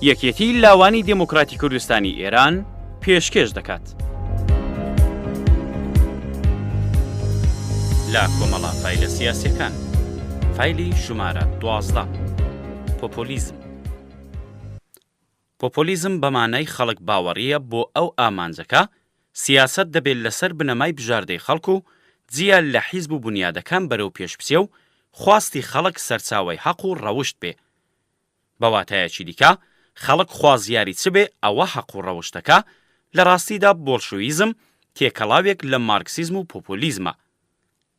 یەکێتی لاوانی دموکراتی کوردستانی ئێران پێشکێش دەکات لە کۆمەڵا فیلە سیاسەکان فیلی ژمارە دوازدە پۆپۆلیزم پۆپۆلیزم بە مانای خەڵک باوەڕییە بۆ ئەو ئامانجەکە، سیاسەت دەبێ لەسەر بنەمای بژاردەی خەڵک و جیا لە حیزب و بونیادەکان بەرەو پێش بچێ و خواستی خەڵک سەرچاوەی هەق و ڕەوشت بێ. بە واتایەکی دیکە خەڵک خوازیاری چ بێ ئەوە هەق و ڕەوشتەکە، لە ڕاستیدا بۆڵشویزم تێکەڵاوێک لە مارکسیزم و پۆپۆلیزمە.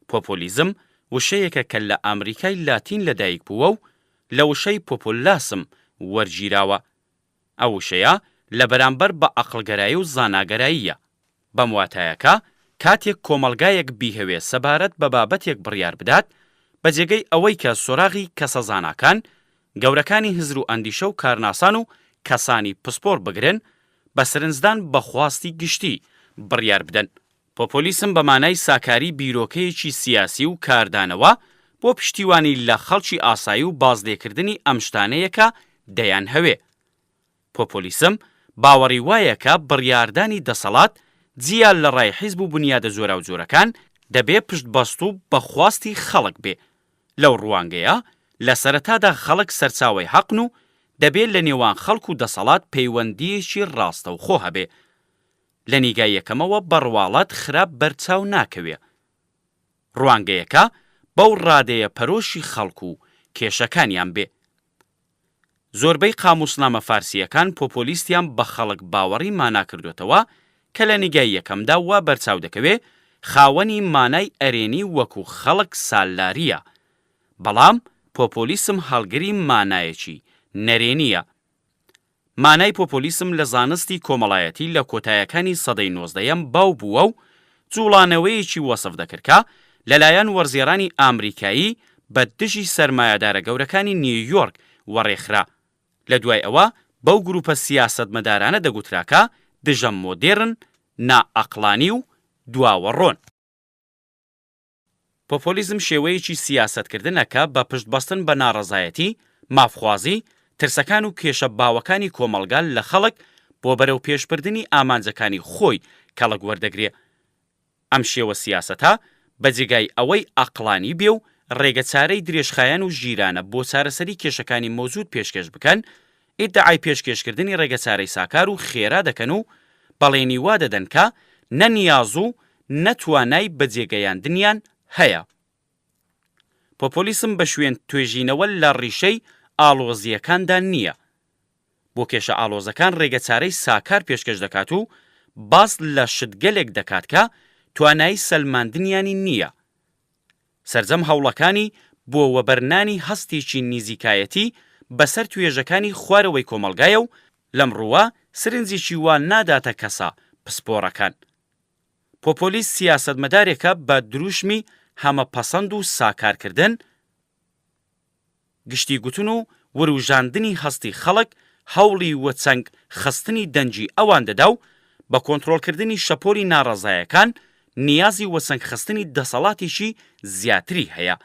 پۆپۆلیزم وشەیەکە کە لە ئامریکای لاتین لەدایک بووە و لە وشەی پۆپۆلاسم وەرگیراوە. ئەو وشەیە لە بەرامبەر بە ئەقڵگەرایی و زاناگەراییە. بەم واتایە کە کاتێک کۆمەڵگایەک بیهەوێ سەبارەت بە بابەتێک بڕیار بدات، بە جێگەی ئەوەی کە سۆراغی کەسە زاناکان، گەورەکانی هزر و ئەندیشە و کارناسان و کەسانی پسپۆڕ بگرن، بە سرنجدان بە خواستی گشتی بڕیار بدەن. پۆپۆلیسم بە مانای ساکاری بیرۆکەیەکی سیاسی و کاردانەوە بۆ پشتیوانی لە خەڵکی ئاسایی و بازلێکردنی ئەم شتانەیە کە دەیانهەوێ. پۆپۆلیسم باوەڕی وایە کە بڕیاردانی دەسەڵات، جیا لە ڕای حیزب و بونیادە جۆراوجۆرەکان، دەبێ پشتبەستوو بە خواستی خەڵک بێ. لەو ڕوانگەیە، لە سەرەتادا خەڵک سەرچاوەی حەقن و دەبێ لە نێوان خەڵک و دەسەڵات پەیوەندییەکی ڕاستەوخۆ هەبێ. لە نیگای یەکەمەوە بە ڕواڵەت خراپ بەرچاو ناکەوێ. ڕوانگەیەکە بەو ڕادەیە پەرۆشی خەڵک و کێشەکانیان بێ. زۆربەی قامووسنامە فارسییەکان پۆپۆلیستیان بە خەڵک باوەڕی مانا کردۆتەوە کە لە نیگای یەکەمدا وا بەرچاو دەکەوێ خاوەنی مانای ئەرێنی وەکوو خەڵک سالارییە بەڵام پۆپۆلیسم هەڵگری مانایەکی نەرێنییە. مانای پۆپۆلیسم لە زانستی کۆمەڵایەتی لە کۆتایەکانی سەدەی نۆزدەیەم باو بووە و جووڵانەوەیەکی وەسف دەکرد کە لەلایەن وەرزێڕانی ئامریکایی بە دژی سەرمایەدارە گەورەکانی نیویۆرک وەڕێخرا لە دوای ئەوە بەو گرووپە سیاسەتمەدارانە دەگوترا کە دژە مۆدێرن، نائەقڵانی و دواوەڕۆن. پۆپۆلیزم شێوەیەکی سیاسەتکردنە کە بە پشتبەستن بە ناڕەزایەتی، مافخوازی، ترسەکان و کێشە باوەکانی کۆمەڵگا لە خەڵک بۆ بەرەوپێشبردنی ئامانجەکانی خۆی کەڵک وەردەگرێ. ئەم شێوە سیاسەتە بە جێگای ئەوەی ئەقڵانی بێ و ڕێگەچارەی درێژخایەن و ژیرانە بۆ چارەسەری کێشەکانی مەوجود پێشکێش بکەن، ئیدعای پێشکێشکردنی ڕێگەچارەی ساکار و خێرا دەکەن و بەڵێنی وا دەدەن کە نە نیاز و نە توانای بەجێگەیاندنیان هەیە. پۆپۆلیسم بە شوێن توێژینەوە لە ڕیشەی ئاڵۆزییەکاندا نییە. بۆ کێشە ئاڵۆزەکان ڕێگەچارەی ساکار پێشکەش دەکات و باس لە شتگەلێک دەکات کە توانایی سەلماندنیانی نییە. سەرجەم هەوڵەکانی بۆ وەبەرنانی هەستێکی نیزیکایەتی بەسەر توێژەکانی خوارەوەی کۆمەڵگایە و لەم ڕووە سرنجێکی وا ناداتە کەسە پسپۆڕەکان. پۆپۆلیست سیاسەتمەدارێکە بە دروشمی هەمە پەسەند و ساکارکردن، گشتی گوتن و وروژاندنی هەستی خەڵک هەوڵی وەچەنگ خستنی دەنگی ئەوان دەدا و بە کۆنترۆڵکردنی شەپۆلی ناڕەزایەکان نیازی وەچەنگ خستنی دەسەڵاتێکی زیاتری هەیە.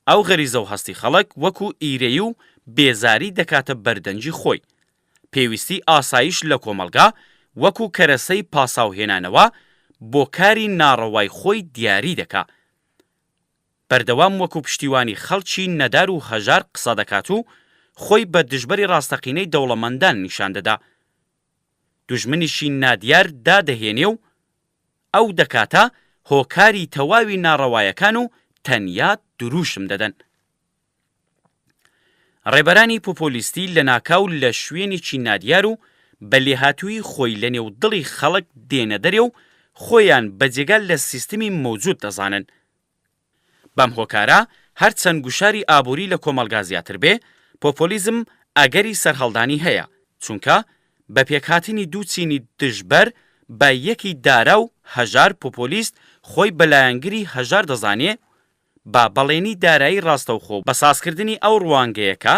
ئەو غەریزەو هەستی خەڵک وەکو ئیرەیی و بێزاری دەکاتە بەردەنگی خۆی. پێویستی ئاسایش لە کۆمەڵگا وەکو کەرەسەی پاساوهێنانەوە بۆ کاری ناڕەوای خۆی دیاری دەکا. بەردەوام وەکو پشتیوانی خەڵکی نەدار و هەژار قسە دەکات و خۆی بە دژبەری ڕاستەقینەی دەوڵەمەندان نیشان دەدا. دوژمنیشی نادیار دادەهێنێ و ئەو دەکاتە هۆکاری تەواوی ناڕەوایەکان و تەنیا درووشم دەدەن. ڕێبەرانی پوپولیستی لەناکاو لە شوێنێکی نادیار و بە لێهاتوویی خۆی لە نێو دڵی خەڵک دێنە دەرێ و خۆیان بە جێگا لە سیستمی مەوجود دەزانن. بەم هۆکارە هەرچەند گوشاری ئابووری لە کۆمەڵگا زیاتر بێ، پۆپۆلیزم ئەگەری سەرهەڵدانی هەیە، چونکە بە پێکهاتنی دوو چینی دژبەر بە یەکی دارا و هەژار پوپولیست خۆی بە لایەنگری هەژار دەزانێ و بە بەڵێنی دارایی ڕاستەوخۆ و بە سازکردنی ئەو ڕوانگەیە کە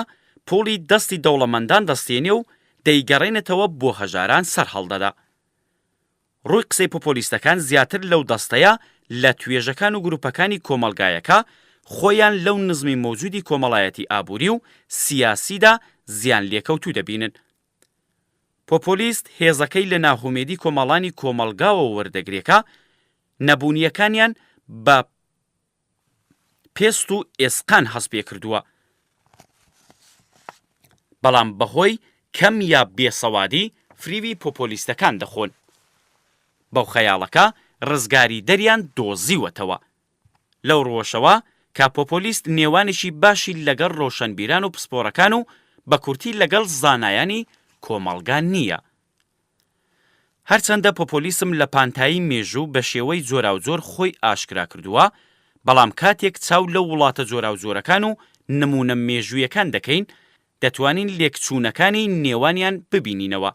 پوڵی دەستی دەوڵەمەندان دەستێنێ و دەیگەڕێنێتەوە بۆ هەژاران سەرهەڵدەدا. ڕووی قسەی پۆپۆلیستەکان زیاتر لەو دەستەیە لە توێژەکان و گروپەکانی کۆمەڵگایە کە خۆیان لەو نزمی مەوجودی کۆمەڵایەتی ئابووری و سیاسیدا زیانلێکەوتوو دەبینن. پۆپۆلیست هێزەکەی لە ناهومێدی کۆمەڵانی کۆمەڵگاوە وەردەگرێ کە نەبوونییەکانیان بە پێست و ئێسقان هەست پێ کردووە بەڵام بە هۆی کەم یا بێسەوادی فریوی پۆپۆلیستەکان دەخۆن بەو خەیاڵە کە ڕزگاریدەریان دۆزیوەتەوە. لەو ڕووەشەوە کە پۆپۆلیست نێوانێکی باشی لەگەڵ ڕۆشەنبیران و پسپۆڕەکان و بە کورتی لەگەڵ زانایانی کۆمەڵگا نییە. هەرچەندە پۆپۆلیسم لە پانتایی مێژوو بە شێوەی جۆراوجۆر خۆی ئاشکرا کردووە، بەڵام کاتێک چاو لە وڵاتە جۆراوجۆرەکان و نموونە مێژوویەکان دەکەین، دەتوانین لێکچوونەکانی نێوانیان ببینینەوە.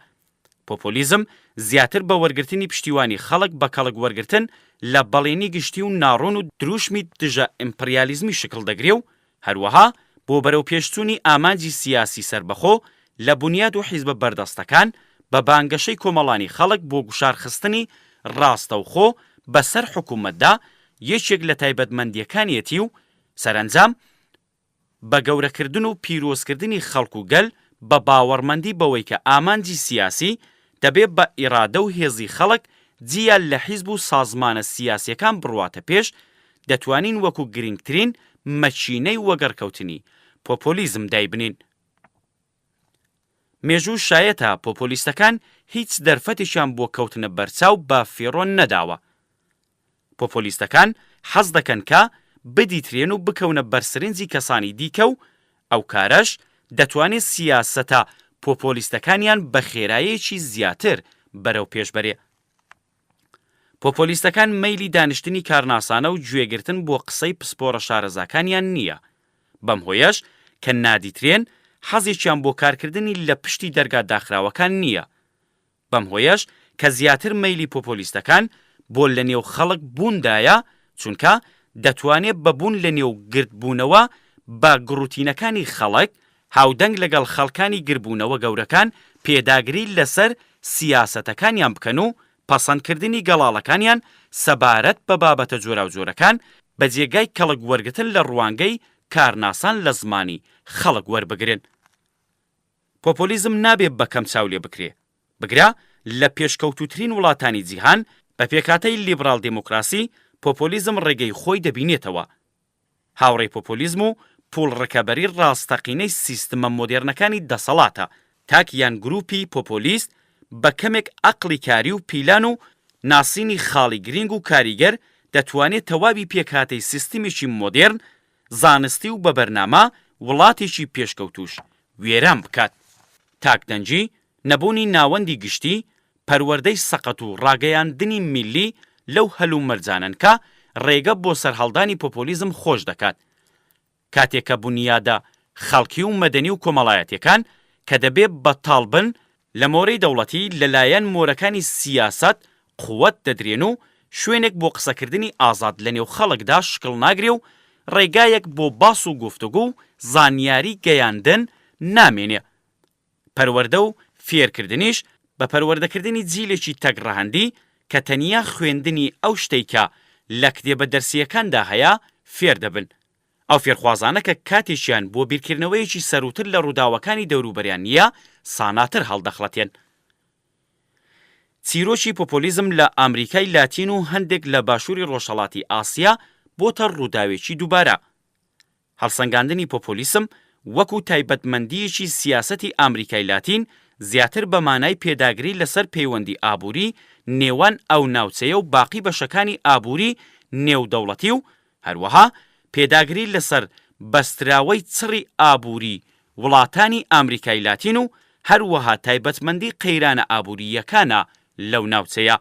پۆپۆلیزم زیاتر بە وەرگرتنی پشتیوانی خەڵک بە کەڵک وەرگرتن لە بەڵێنی گشتی و ناڕوون و دروشمی دژە ئیمپریالیزمی شکڵ دەگرێ و هەروەها بۆ بەرەوپێشچوونی ئامانجی سیاسی سەربەخۆ لە بونیاد و حیزبە بەردەستەکان بە بانگەشەی کۆمەڵانی خەڵک بۆ گوشار خستنی ڕاستەوخۆ بە سەر حکوومەتدا یەکێک لە تایبەتمەندییەکانیەتی و سەرەنجام بە گەورەکردن و پیرۆزکردنی خەڵک و گەل بە باوەڕمەندی بەوەی کە ئامانجی سیاسی دەبێ بە ئیرادە و هێزی خەڵک جیا لە حیزب و سازمانە سیاسیەکان بڕواتە پێش دەتوانین وەکو گرینگترین مەکینەی وەگەڕکەوتنی پۆپۆلیزم دایبنین. مێژوو شایەتە پۆپۆلیستەکان هیچ دەرفەتێکیان بۆ کەوتنە بەرچاو بە فیڕۆ نەداوە. پۆپۆلیستەکان حەز دەکەن کە بدیترێن و بکەونە بەرسرنجی کەسانی دیکە و ئەو کارەش دەتوانێ سیاسەتە پۆپۆلیستەکانیان بە خێرایەکی زیاتر بەرەوپێش بەرێ. پۆپۆلیستەکان مەیلی دانیشتنی کارناسانە و گوێگرتن بۆ قسەی پسپۆرە شارەزاکانیان نییە، بەم هۆیەش کە نادیترێن، حەزێکیان بۆ کارکردنی لە پشتی دەرگا داخراوەکان نییە. بەم هۆیەش کە زیاتر مەیلی پۆپۆلیستەکان بۆ لەنێو خەڵک بووندایە، چونکە دەتوانێ بە بوون لەنێو گردبوونەوە بە گڕوتینەکانی خەڵک، هاودەنگ لەگەڵ خەڵکانی گربوونەوە گەورەکان پێداگری لەسەر سیاسەتەکانیان بکەن و پەسەندکردنی گەڵاڵەکانیان سەبارەت بە بابەتە جۆراوجۆرەکان بە جێگای کەڵک وەرگتن لە ڕوانگەی کارناسان لە زمانی خەڵک وەربگرن. پۆپۆلیزم نابێ بە کەم چاو لێ بکرێ. بگرە لە پێشکەوتووترین وڵاتانی جیهان، بە پێکهاتەی لیبڕاڵ دێمۆکڕاسی، پۆپۆلیزم ڕێگەی خۆی دەبینێتەوە. هاوڕێی پۆپۆلیزم و پووڵ ڕکەبەری ڕاستەقینەی سیستمە مۆدێرنەکانی دەسەڵاتە، تاک یان گرووپی پۆپۆلیست بە کەمێک ئەقڵی کاری و پیلان و ناسینی خاڵی گرینگ و کاریگەر دەتوانێ تەواوی پێکهاتەی سیستمێکی مۆدێرن، زانستی و بە بەرنامە وڵاتێکی پێشکەوتووش وێران بکات. تاک دەنگی، نەبوونی ناوەندی گشتی، پەروەردەی سەقەت و ڕاگەیاندنی میللی لەو هەلومەرجانەن کە ڕێگە بۆ سەرهەڵدانی پۆپۆلیزم خۆش دەکات. کاتێک کە بونیادە خەڵکی و مەدەنی و کۆمەڵایەتیەکان کە دەبێ بەتاڵ بن، لە مۆرەی دەوڵەتی لە لایەن مۆرەکانی سیاسەت قوت دەدرێن و شوێنێک بۆ قسەکردنی ئازاد لە نێو خەڵکدا شکڵ ناگرێ و ڕێگایەک بۆ باس و گفتوگو و زانیاری گەیاندن نامێنێ پەروەردە و فێرکردنیش بە پەروەردەکردنی جیلێکی تەک ڕەهەندی کە تەنیا خوێندنی ئەو شتەی کە لە کتێبە دەرسییەکاندا هەیە فێر دەبن. ئەو فێرخوازانە کە کاتێکیان بۆ بیرکردنەوەیەکی سەرووتر لە ڕووداوەکانی دەوروبەریان نییە ساناتر هەڵدەخڵەتێن. چیرۆکی پۆپۆلیزم لە ئامریکای لاتین و هەندێک لە باشووری ڕۆژهەڵاتی ئاسیا بۆتە ڕووداوێکی دووبارە. هەڵسەنگاندنی پۆپۆلیسم وەکو تایبەتمەندییەکی سیاسەتی ئامریکای لاتین زیاتر بە مانای پێداگری لەسەر پەیوەندی ئابووری نێوان ئەو ناوچەیە و باقی بەشەکانی ئابووری نێودەوڵەتی و هەروەها پێداگری لەسەر بەستراوەی چڕی ئابووری وڵاتانی ئامریکای لاتین و هەروەها تایبەتمەندی قەیرانە ئابوورییەکانە لەو ناوچەیە.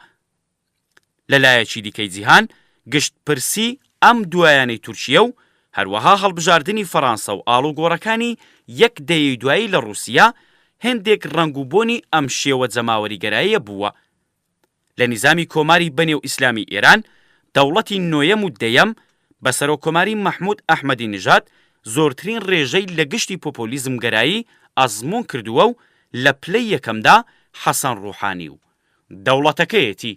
لە لایەکی دیکەی جیهان، گشتپرسی ئەم دوایانەی تورکیە و هەروەها هەڵبژاردنی فەڕانسە و ئاڵوگۆڕەکانی یەک دەیەی دوایی لە ڕووسیە، هێندێک ڕەنگ و بۆنی ئەم شێوە جەماوەریگەراییە بووە. لە نیزامی کۆماری بەنێو ئیسلامی ئێران، دەوڵەتی نۆیەم و دەیەم، بە سەرۆککۆماری مەحموود ئەحمەدی نژاد، زۆرترین ڕێژەی لە گشتی پۆپۆلیزمگەرایی ئەزموون کردووە و لە پلەی یەکەمدا حەسەن ڕووحانی و دەوڵەتەکەیەتی.